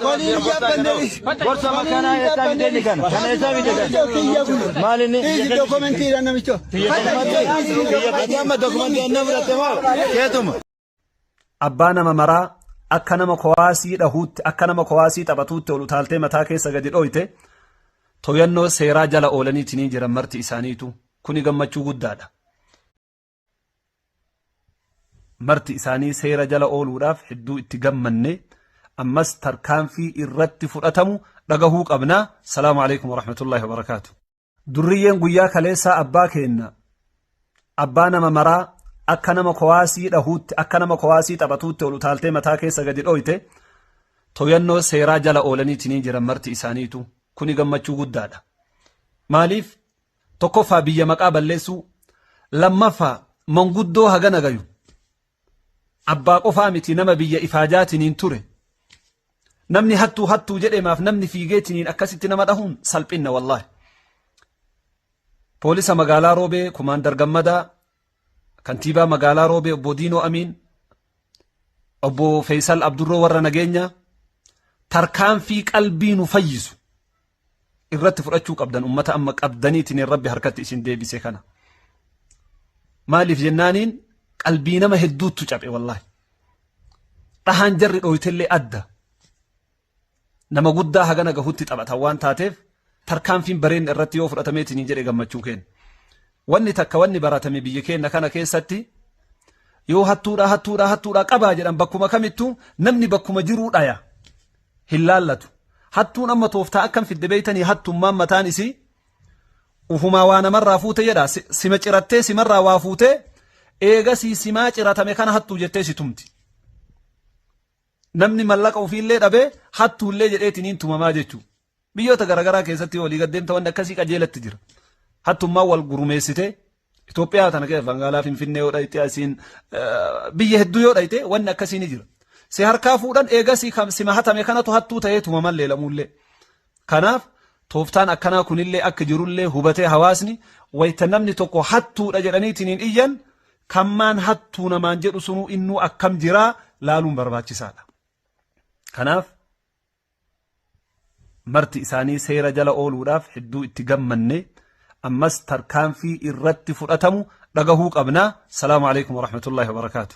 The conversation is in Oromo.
Waliin jabbannenis. Gorsa makana eessa fide ni kana. Kana eessa fide kana. Kiyya kun. Maal inni? Dhiisi dokumentiidha namicho. Kiyya kiyya amma dokumentii anna fudhatte moo? Keetuma. Abbaa nama maraa akka nama kowaasii dhahuutti akka nama kowaasii taphatuutti ol utaaltee mataa keessa gadi dhooyte toyannoo seeraa jala oolaniitii ni jiran marti isaaniitu kuni gammachuu guddaadha. marti isaanii seera jala ooluudhaaf hedduu itti gammanne ammas tarkaanfii irratti fudhatamu dhagahuu qabna salaamu alaikum warahmatullaahi wabarakaatu durriyyeen guyyaa kaleessaa abbaa keenna abbaa nama maraa akka nama kowaasii dhahuutti akka nama kowaasii taphatuutti ol utaaltee mataa keessa gadi dhooyte toyannoo seeraa jala oolaniitiin jiran marti isaaniitu kuni gammachuu guddaadha maaliif Tokkoffaa biyya maqaa balleessuu, lammaffaa manguddoo hagana gayu abbaa qofaa miti nama biyya ifaajaatiniin ture namni hattuu hattuu jedhemaaf namni fiigeetiniin akkasitti nama dhahuun salphinna wallaahi. Poolisa magaalaa Roobee Kumaandar Gammadaa Kantiibaa Magaalaa Roobee Obbo Diinoo Amiin, Obbo Feesal Abdurroo warra nageenyaa tarkaanfii qalbii nu fayyisu irratti fudhachuu qabdan ummata amma qabdaniitiin rabbi harkatti isin deebise kana. Maaliif jennaaniin qalbii nama hedduuttu caphe wallaahi. Dhahaan jarri dhooytellee adda. nama guddaa hagana gahutti taphatan waan taateef tarkaanfiin bareen irratti yoo fudhatameetiin jedhe gammachuu keenya. Wanni takka wanni baratame biyya keenya kana keessatti yoo hattuudhaa hattuudhaa hattuudhaa qabaa jedhan bakkuma kamittuu namni bakkuma jiruu dhaya hin laallatu. Hattuun amma tooftaa akkam fidde beeytanii hattummaan mataan isii ufumaa waa namarraa fuute jedha sima cirattee simarraa waa fuute eegasii simaa ciratame kana hattuu jettee si tumti. Namni mallaqa ofiillee dhabee hattuullee jedheetiniin tumamaa jechuu. Biyyoota garaagaraa keessatti yoo olii gad deemta wanni akkasii qajeelatti jira. Hattummaan wal gurmeessitee Itoophiyaa tana keessa magaalaa Finfinnee yoo dhayite asiin biyya hedduu yoo dhayite wanni akkasii ni jira. Si harkaa fuudhan eegasii sima hatame kanatu hattuu ta'ee tumaman leelamuullee. Kanaaf, tooftaan akkanaa kunillee akka jirullee hubatee hawaasni wayta namni tokko hattuudha jedhaniitiniin iyyan kan maan hattuu namaan jedhu sunuu innuu akkam jiraa laaluun barbaachisaadha. Kanaaf, marti isaanii seera jala ooluudhaaf hedduu itti gammanne ammas tarkaanfii irratti fudhatamu dhagahuu qabna. Salaamu alaikum warahmatullahi wabarakaatu.